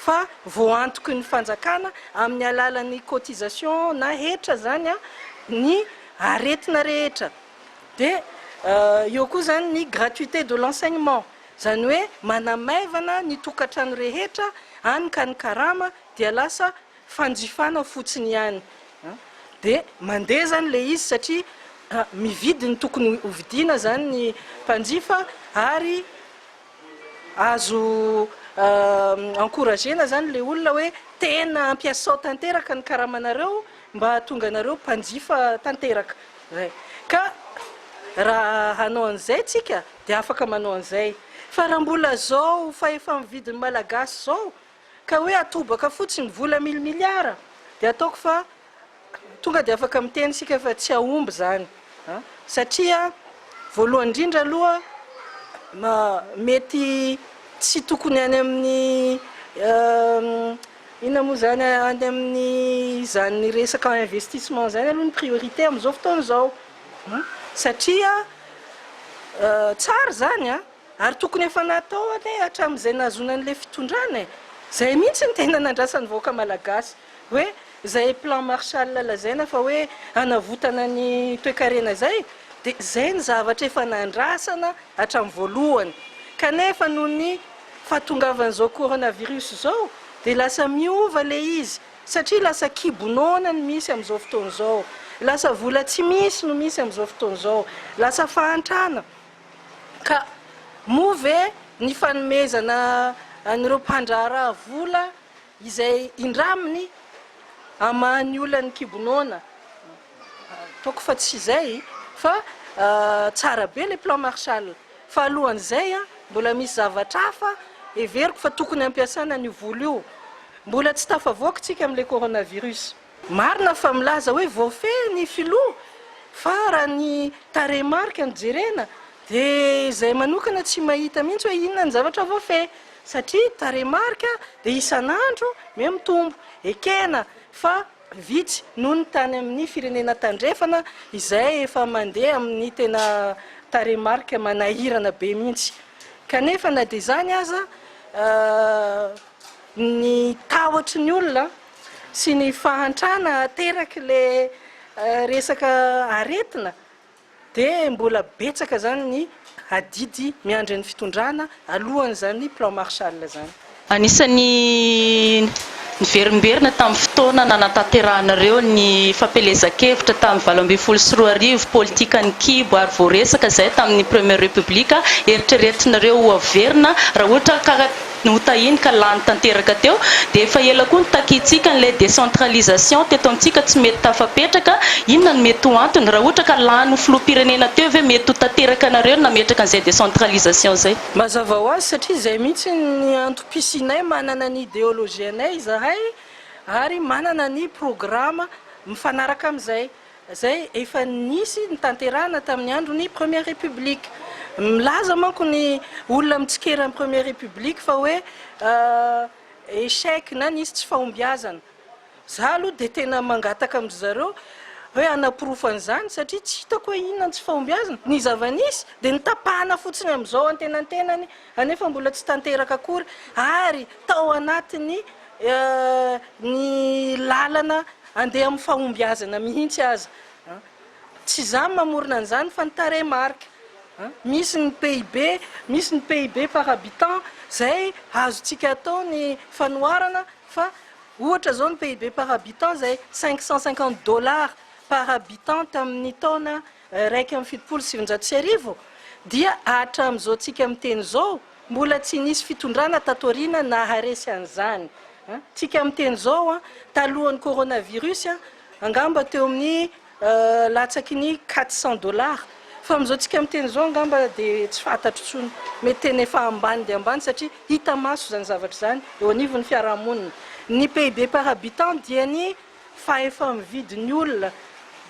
fa voantoky ny fanjakana amin'ny alalan'ny cotisation na hetra izany ny aretina rehetra dia eo koa izany ny gratuité de l'enseignement izany hoe manamaivana ny tokantrano rehetra any ka ny karama dia lasa fanjifana fotsiny ihany dia mandeha izany ilay izy satria mividy ny tokony ho vidiana izany ny mpanjifa ary azo encourager-na izany ilay olona hoe tena ampiasao tanteraka ny karamanareo mba hahatonga anareo mpanjifa tanteraka izay ka raha hanao an'izay tsika dia afaka manao an'izay fa raha mbola izao fahefa-mividin'ny malagasy izao Ka hoe atobaka fotsiny vola mille milliards dia ataoko fa tonga dia afaka miteny isika fa tsy hahomby izany an! satria voalohany indrindra aloha mety tsy tokony any amin'ny inona moa izany any amin'ny izany resaka investissement izany aloha ny priorité amin'izao fotoana izao an! satria tsara izany an! Ary tokony efa natao anie hatramin'izay nahazoana an'ilay fitondrana e! Izay mihitsy no tena nandrasan'ny vahoaka malagasy hoe izay plan Marshall lazaina fa hoe hanavotana ny toekarena izay dia izay no zavatra efa nandrasana hatramin'ny voalohany kanefa noho ny fahatongavan'izao coronavirus izao dia lasa miova ilay izy satria lasa kibo noana no misy amin'izao fotoana izao, lasa vola tsy misy no misy amin'izao fotoana izao, lasa fahantrana. Ka moa ve ny fanomezana an'ireo mpandraharaha vola izay indraminy hamaha ny olan'ny kibo noana, ataoko fa tsy izay fa tsara be ilay plan Marshall fa alohan'izay mbola misy zavatra hafa heveriko fa tokony hampiasana an'io vola io, mbola tsy tafavoaka isika amin'ilay coronavirus. Marina fa milaza hoe voafehy ny filoha fa raha ny tarehimarika no jerena dia izahay manokana tsy mahita mihitsy hoe inona ny zavatra voafehy satria tarehimarika dia isan'andro me mitombo. Ekena fa vitsy noho ny tany amin'ny firenena tandrefana izay efa mandeha amin'ny tena tarehimarika manahirana be mihitsy kanefa na dia izany aza ny tahotry ny olona sy ny fahantrana ateraky le resaka aretina de mbola betsaka zany ny adidy miandry ny fitondrana alohan'izany plan Marshall zany. Anisan'ny niverimberina tamin'ny fotoana nanatanterahanareo ny fampielezan-kevitra tamin'ny valo ambin'ny folo sy roa arivo, politikan'ny kibo ary voaresaka izay tamin'ny Première République, eritreretinareo ho averina raha ohatra ka. notahiny ka lany tanteraka teo, dia efa ela koa nitakintsika an'ilay décentralisation teto amintsika tsy mety tafapetraka, inona no mety ho antony? Raha ohatra ka lany ho filoham-pirenena teo ve mety ho tanteraka anareo ny nametraka an'izay décentralisation izay? Mazava ho azy satria izay mihitsy ny antom-pisianay, manana ny ideologie-nay izahay ary manana ny programa mifanaraka amin'izay. izay efa nisy nitanterahana tamin'ny andron'ny Première République. Milaza manko ny olona mitsikera ny Première République fa hoe échec na nisy tsy fahombiazana. Za aloha dia tena mangataka amin-dry zareo hoe hanaporofo an'izany satria tsy hitako hoe inona ny tsy fahombiazana. Ny zava-nisy dia notapahana fotsiny amin'izao antenantenany. anefa mbola tsy tanteraka akory ary tao anatin'ny ny lalana andeha amin'ny fahombiazana mihitsy aza. Tsy izaho no mamorona an'izany fa ny tarehimarika. Misy ny PIB, misy ny PIB par habitant, izay azontsika atao ny fanoharana fa ohatra izao ny PIB par habitant izay cinq cent cinquante dollars par habitant tamin'ny taona Iraika amby fitopolo sy sivinjato sy arivo dia hahatramin'izao tsika miteny izao mbola tsy nisy fitondrana tato aoriana naharesy an'izany tsika miteny izao talohan'ny coronavirus angamba teo amin'ny latsaky ny quatre cent dollars fa amin'izao tsika miteny izao angamba dia tsy fantatro intsony mety tena efa ambany dia ambany satria hita maso izany zavatra izany eo anivon'ny fiarahamonina ny PIB par habitant dia ny fa efa mividy ny olona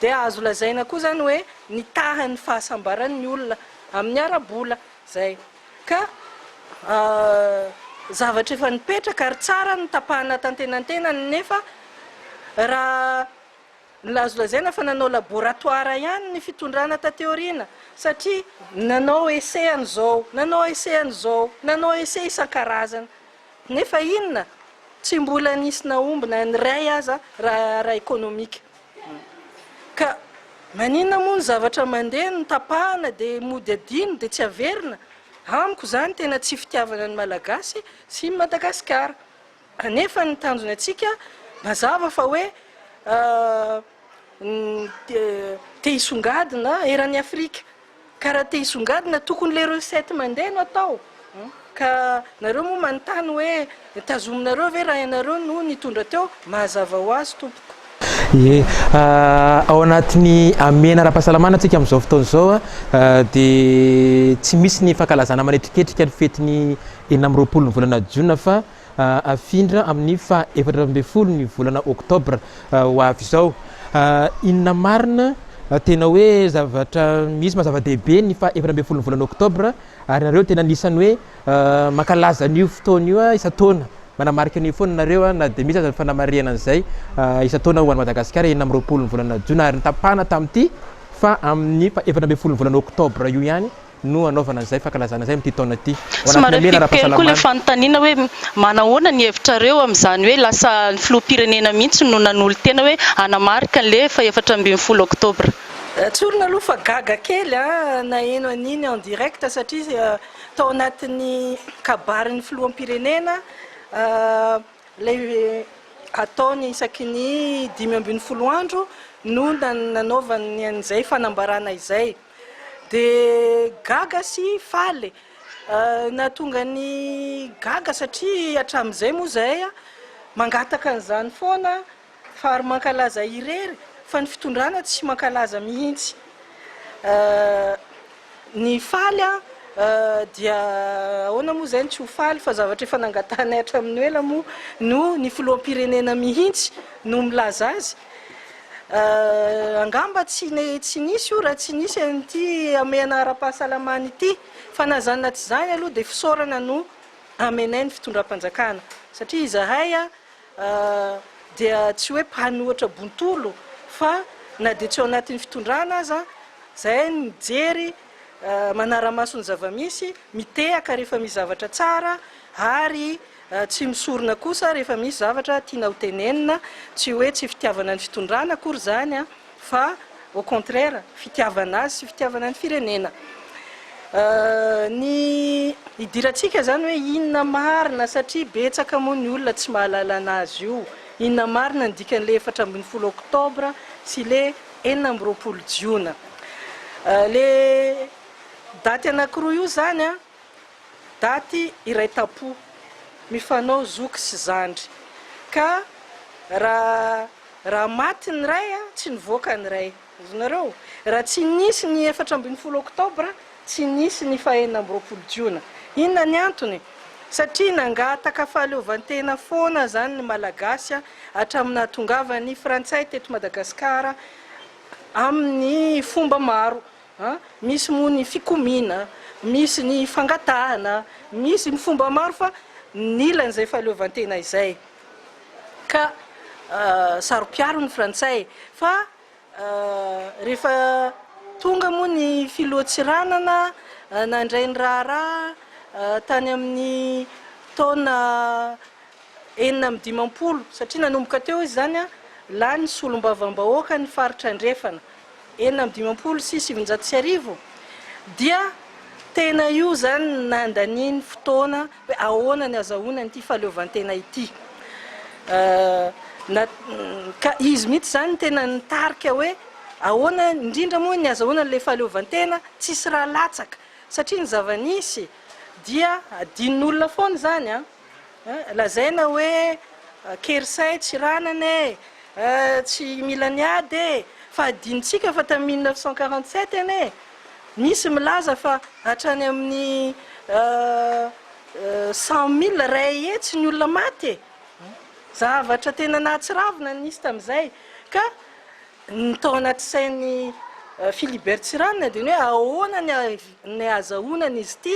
dia azo lazaina koa izany hoe nitaha ny fahasambarany ny olona amin'ny ara-bola izay ka zavatra efa nipetraka ary tsara ny tapahana tantenantenany nefa raha ny azo lazaina fa nanao laboratoire ihany ny fitondrana taty aoriana satria nanao essai an'izao nanao essai an'izao nanao essai isan-karazany Nefa inona? Tsy mbola nisy nahomby na ny iray aza raha ara-ekonomika. Ka maninona moa ny zavatra mandeha no tapahana dia mody adino dia tsy averina? Amiko izany tena tsy fitiavana ny Malagasy sy i Madagasikara. Kanefa ny tanjona antsika mazava fa hoe te hisongadina eran'i Afrika. Ka raha te hisongadina tokony le recette mandeha no atao ka nareo moa manontany hoe tazominareo ve raha ianareo no nitondra teo? Mahazava ho azy tompoko. Ie, ao anatin'ny hamehana ara-pahasalamana antsika amin'izao fotoana izao dia tsy misy ny fankalazana manetriketrika ny fetin'ny enina amby roapolo ny volana jiona fa hafindra amin'ny faha efatra ambin'ny folo ny volana oktobra ho avy izao. Inona marina? Tena hoe zavatra misy mazava-dehibe ny faha efatra ambin'ny folo ny volana oktobra ary nareo tena anisan'ny hoe mankalaza an'io fotoana io isan-taona. Manamarika an'io foana nareo na dia misy aza ny fanamarihana an'izay isan-taona ho an'i Madagasikara enina amby roapolo ny volana jona ary nitapahana tamin'ity fa amin'ny faha efatra ambin'ny folo ny volana oktobra io ihany no hanaovana izay fankalazana izay amin'ity taona ity. Ho anatin'ny Somary hamehana ampiako kely koa ilay ara-pahasalamana. fanontaniana hoe manahoana ny hevitrareo amin'izany hoe lasa ny filoham-pirenena mihitsy no nanolo-tena hoe hanamarika an'ilay fahefatra ambin'ny folo oktobra. Tsorina aloha fa gaga kely aho naheno an'iny en direct satria tao anatin'ny kabarin'ny filoham-pirenena ilay ataony isaky ny dimy ambin'ny folo andro no nanaovany an'izay fanambarana izay. Dia gaga sy faly. Nahatonga ny gaga satria hatramin'izay moa izahay mangataka an'izany foana fa ary mankalaza irery fa ny fitondrana tsy mankalaza mihitsy. Ny faly dia ahoana moa izay ny tsy ho faly fa zavatra efa nangatahanay hatramin'ny ho ela moa no ny filoham-pirenena mihitsy no milaza azy. Angamba tsy tsy nisy io raha tsy nisy an'ity hamehana ara-pahasalamana ity. Fa na izany na tsy izany aloha dia fisaorana no amenay ny fitondram-panjakana. Satria izahay dia tsy hoe mpanohitra bontolo fa na dia tsy ao anatin'ny fitondrana aza izahay mijery manara-maso ny zava-misy, mitehaka rehefa misy zavatra tsara ary. Tsy misorona kosa rehefa misy zavatra tiana ho tenenina, tsy hoe tsy fitiavana ny fitondrana akory izany fa au contraire fitiavana azy sy fitiavana ny firenena. Ny idirantsika izany hoe inona marina satria betsaka moa ny olona tsy mahalala anazy io, inona marina ny dikan'ilay efatra ambin'ny folo oktobra sy ilay enina amby roapolo jiona. Ilay daty anankiroa io izany an! Daty iray tampo, mifanao zoky sy zandry. Ka raha raha maty ny ray, tsy nivoaka ny ray. Azonareo? Raha tsy nisy ny efatra ambin'ny folo oktobra, tsy nisy ny fahenina amby roapolo jiona. Inona ny antony? Satria nangataka fahaleovantena foana izany ny Malagasy hatramin'ny nahatongavan'ny Frantsay teto Madagasikara amin'ny fomba maro. Misy moa ny fikomiana, misy ny fangatahana, misy ny fomba maro fa nilan'izay fahaleovantena izay ka saro-piaro ny frantsay fa rehefa tonga moa ny filoha Tsiranana nandray ny raharaha tany amin'ny taona enina amby dimampolo satria nanomboka teo izy izany lany solombavambahoaka ny faritra andrefana enina amby dimampolo sy sivinjato sy arivo dia tena io izany nandaniany fotoana hoe ahoana ny azahoany an'ity fahaleovantena ity na ka izy mihitsy izany no tena nitarika hoe ahoana indrindra moa ny azahoana an'ilay fahaleovantena tsisy raha latsaka satria ny zava-nisy dia adinon'olona foana izany an Lazaina hoe Kersay tsy ranana e, tsy mila ny ady e, fa adinontsika fa tamin'ny mille neuf cent quarante sept anie nisy milaza fa hatrany amin'ny cent mille iray hetsy ny olona maty e! zavatra tena nahatsiravina no nisy tamin'izay ka ny tao anaty sain'i Philibert Tsiranana dia ny hoe ahoana ny ahazahoana an'izy ity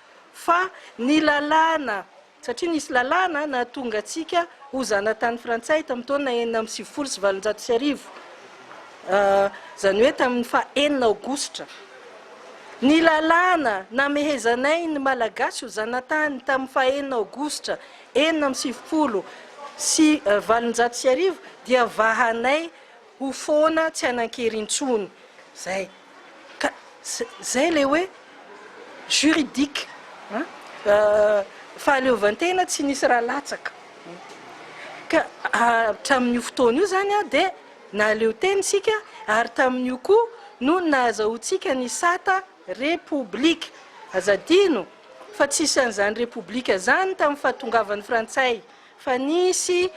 fa ny lalàna, satria nisy lalàna nahatonga antsika ho zanatany frantsay tamin'ny taona enina amby sivifolo sy valonjato sy arivo, izany hoe tamin'ny faha enina aogositra. Ny lalàna namehezanay ny Malagasy ho zanatany tamin'ny faha enina aogositra enina amby sivifolo sy valonjato sy arivo dia vahanay Ho foana tsy hanankery intsony zay ka zay le hoe juridique an fahaleovantena tsy nisy raha latsaka ka hatramin'io fotoana io zany an dia nahaleo tena isika ary tamin'io koa no nahazahoantsika ny sata repoblika aza adino fa tsisy an'izany repoblika zany tamin'ny fahatongavan'ny frantsay Fa nisy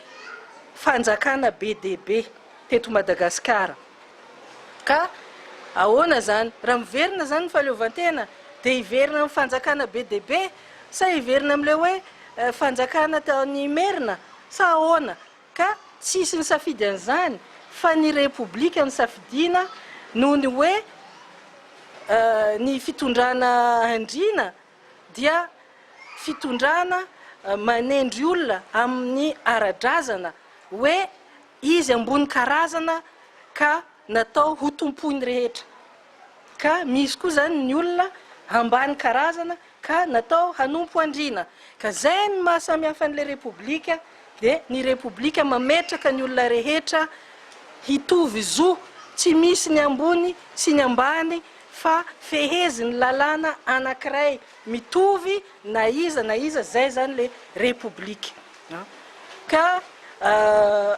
fanjakana be dia be teto Madagasikara ka ahoana izany? Raha miverina izany ny fahaleovantena dia hiverina amin'ny fanjakana be dia be sa hiverina amin'ilay hoe fanjakana tao any Imerina sa ahoana? Ka tsy hisy nisafidy an'izany fa ny Repoblika nosafidiana noho ny hoe ny fitondrana Andriana dia fitondrana manendry olona amin'ny ara-drazana hoe izy ambony karazana ka natao ho tompoin'ny rehetra, ka misy koa izany ny olona ambany karazana ka natao hanompo andriana, ka izay no maha samy hafa an'ilay Repoblika, dia ny Repoblika mametraka ny olona rehetra hitovy zo, tsy misy ny ambony sy ny ambany, fa fehezin'ny lalàna anankiray mitovy na iza na iza, izay izany ilay Repoblika. Ka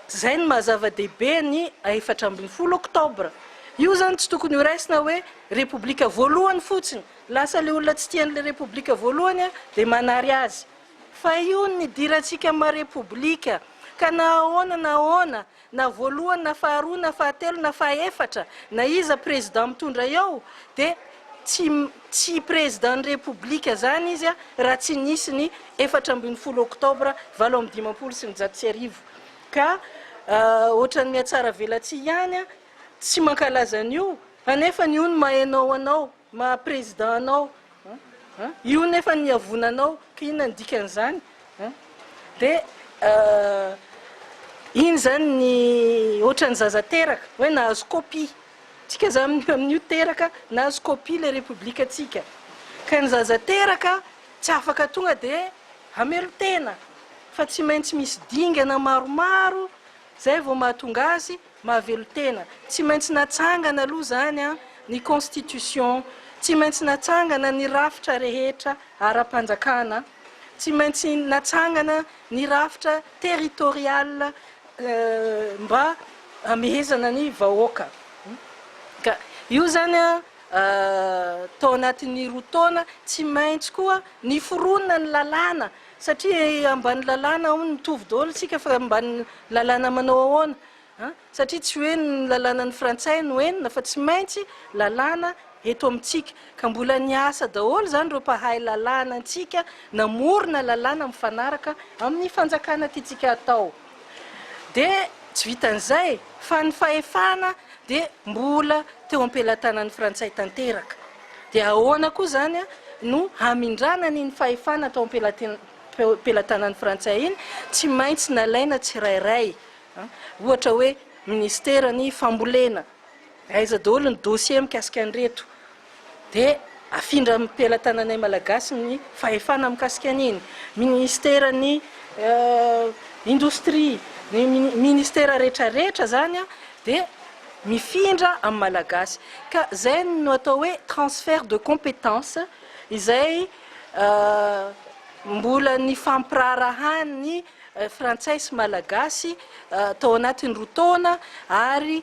izay no maha-zava-dehibe ny efatra ambin'ny folo oktobra. Io izany tsy tokony horaisina hoe Repoblika voalohany fotsiny. Lasa ilay olona tsy tia an'ilay Repoblika voalohany dia manary azy. Fa io no nidirantsika maha Repoblika, ka na ahoana na ahoana, na voalohany na faharoa na fahatelo na fahaefatra na iza président mitondra eo dia tsy tsy président ny république zany izy a raha tsy nisy ny efatra ambin'ny folo octobre valo amby dimampolo sy ny zato sy arivo ka ohatran'ny mihatsaravelatsihy ihany a tsy mankalaza an'io anefa ny ony mahainao anao Maha président anao an! Io nefa ny iavona anao ka inona ny dikan'izany an! De iny zany ny ohatran'ny zaza teraka hoe nahazo copie! Tsika zany amin'io teraka nahazo copie le république tsika! Ka ny zaza teraka tsy afaka tonga de hamelon-tena fa tsy maintsy misy dingana maromaro zay vao mahatonga azy Mahavelon-tena. Tsy maintsy natsangana aloha izany ny Constitution, tsy maintsy natsangana ny rafitra rehetra ara-panjakana, tsy maintsy natsangana ny rafitra territorial mba hamehezana ny vahoaka. Ka io izany tao anatin'ny roa taona, tsy maintsy koa niforona ny lalàna Satria ambany lalàna hono mitovy daholo tsika fa ambany lalàna manao ahoana an? Satria tsy hoe ny lalànan'ny frantsay no enina fa tsy maintsy lalàna eto amintsika ka mbola niasa daholo izany ireo mpahay lalàna antsika namorona lalàna mifanaraka amin'ny fanjakana tiantsika atao. Dia tsy vitan'izay fa ny fahefana dia mbola teo am-pelatanan'ny Frantsay tanteraka. Dia ahoana koa izany no hamindràna an'iny fahefana tao am-pelatanan'ny Frantsay iny? Tsy maintsy nalaina tsirairay, ohatra hoe minisiteran'ny fambolena. Aiza daholo ny dossier mikasika an'ireto? Dia afindra amin'ny pelatananay Malagasy ny fahefana mikasika an'iny. Ministeran'ny indostria, ny ministera rehetrarehetra izany dia mifindra amin'ny Malagasy. Ka izay no atao hoe transfert de compétence izay mbola nifampiraharahan'ny frantsay sy Malagasy tao anatin'ny roa taona ary.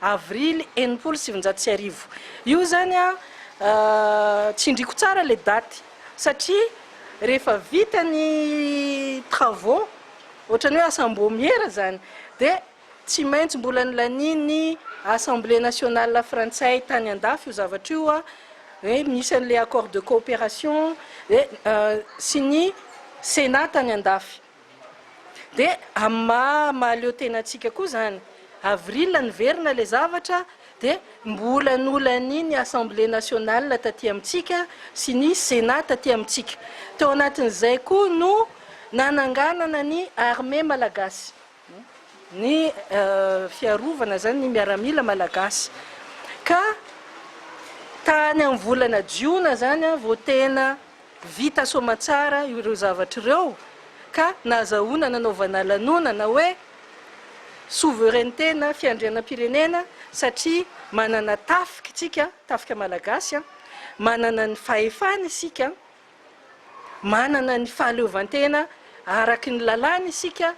Avrily enimpolo sy sivinjato sy arivo. Io zany an, tsindriko tsara le daty satria rehefa vita ny travaux, ohatrany hoe asam-boamiera zany, de tsy maintsy mbola nilanian'ny Assemblée nationale frantsay tany an-dafy io zavatra io an, hoe misy an'le accord de coopération, sy ny Sénat tany an-dafy. Dia amin'ny maha mahaleo tena antsika koa izany. Avril niverina ilay zavatra, dia mbola nolany ny Assemblée nationale taty amintsika sy ny Sénat taty amintsika. Tao anatin'izay koa no nananganana ny armée malagasy, ny fiarovana izany, ny miaramila malagasy. Ka tany amin'ny volana jiona izany vao tena. Vita soamantsara ireo zavatra ireo ka nahazahoana nanaovana lanonana hoe Souveraineté na Fiandrianam-pirenena satria manana tafika isika, tafika malagasy, manana ny fahefana isika, manana ny fahaleovantena araky ny lalàna isika,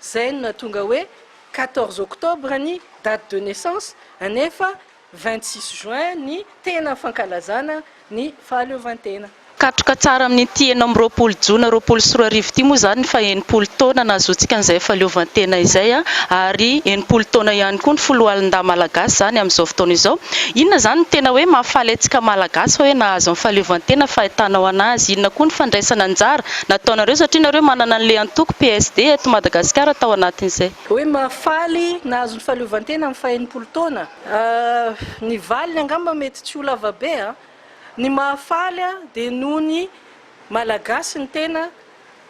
izay no nahatonga hoe quatorze octobre ny date de naissance, nefa. vingt-six juin ny tena fankalazana ny fahaleovantena. Katroka tsara amin'ity enina amby roapolo jona roapolo sy roa arivo ity moa izany ny faha-enimpolo taona nahazoantsika an'izay fahaleovantena izay ary enimpolo taona ihany koa ny foloalindahy malagasy izany amin'izao fotoana izao. Inona izany no tena hoe mahafaly antsika malagasy fa hoe nahazo ny fahaleovantena fahitanao an'azy? Inona koa ny fandraisana anjara nataonareo satria nareo manana an'ilay antoko PSD eto Madagasikara tao anatin'izay Hoe mahafaly, nahazo ny fahaleovantena amin'ny faha enimpolo taona. Ny valiny angamba mety tsy ho lava be a! Ny mahafaly a dia noho ny Malagasy ny tena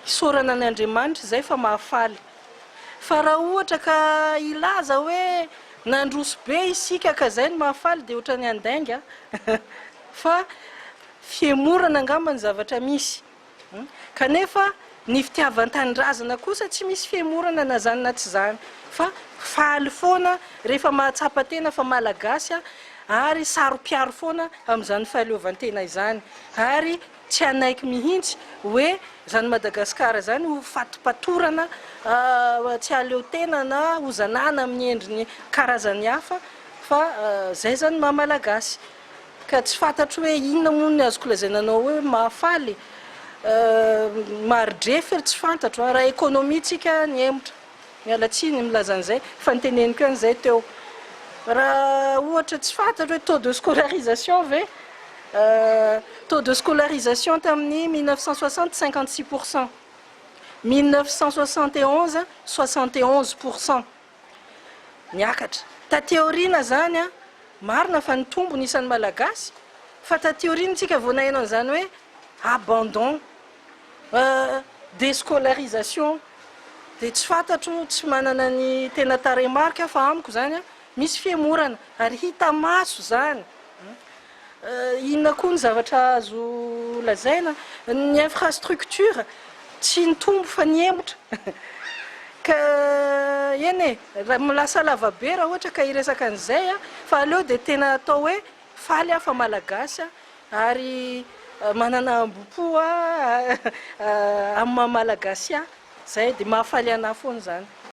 isaorana an' Andriamanitra izay fa mahafaly. Fa raha ohatra ka hilaza hoe nandroso be isika ka izay no mahafaly dia ohatran'ny handainga a! Fa fihemorana angamba ny zavatra misy. Kanefa ny fitiavan-tanindrazana kosa tsy misy fihemorana na izany na tsy izany fa faly foana rehefa mahatsapa tena fa Malagasy aho ary saro-piaro foana amin'izany fahaleovan-tena izany ary tsy hanaiky mihitsy hoe izany Madagasikara izany ho fatipatorana tsy hahaleotena na hozanana amin'ny endriny karazany hafa fa izay izany ny maha-Malagasy. ka tsy fantatro hoe inona moa ny azoko lazaina anao hoe mahafaly eh, maridrefy ry tsy fantatro an, raha économie tsika nihemotra, miala tsiny milaza an'izay fa niteneniko ihany izay teo, raha ohatra tsy fantatro hoe taux de scolarisation ve eh, taux de scolarisation tamin'ny 1960 56 pourcent, 1971 61 pourcent. Niakatra. Taty aoriana izany an, marina fa nitombo ny isan'ny Malagasy, fa taty aoriana isika vao naheno an'izany hoe abandon, descolarisation, dia tsy fantatro, tsy manana ny tena tarehimarika aho fa amiko izany an, misy fihemorana, ary hita maso izany. Inona koa ny zavatra azo lazaina? Ny infrastructure tsy nitombo fa nihemotra ka eny e! lasa lava be raha ohatra ka hiresaka an'izay fa aleo dia tena atao hoe faly aho fa malagasy ary manana hambom-po amin'ny maha malagasy ahy, izay dia mahafaly an'ahy foana izany.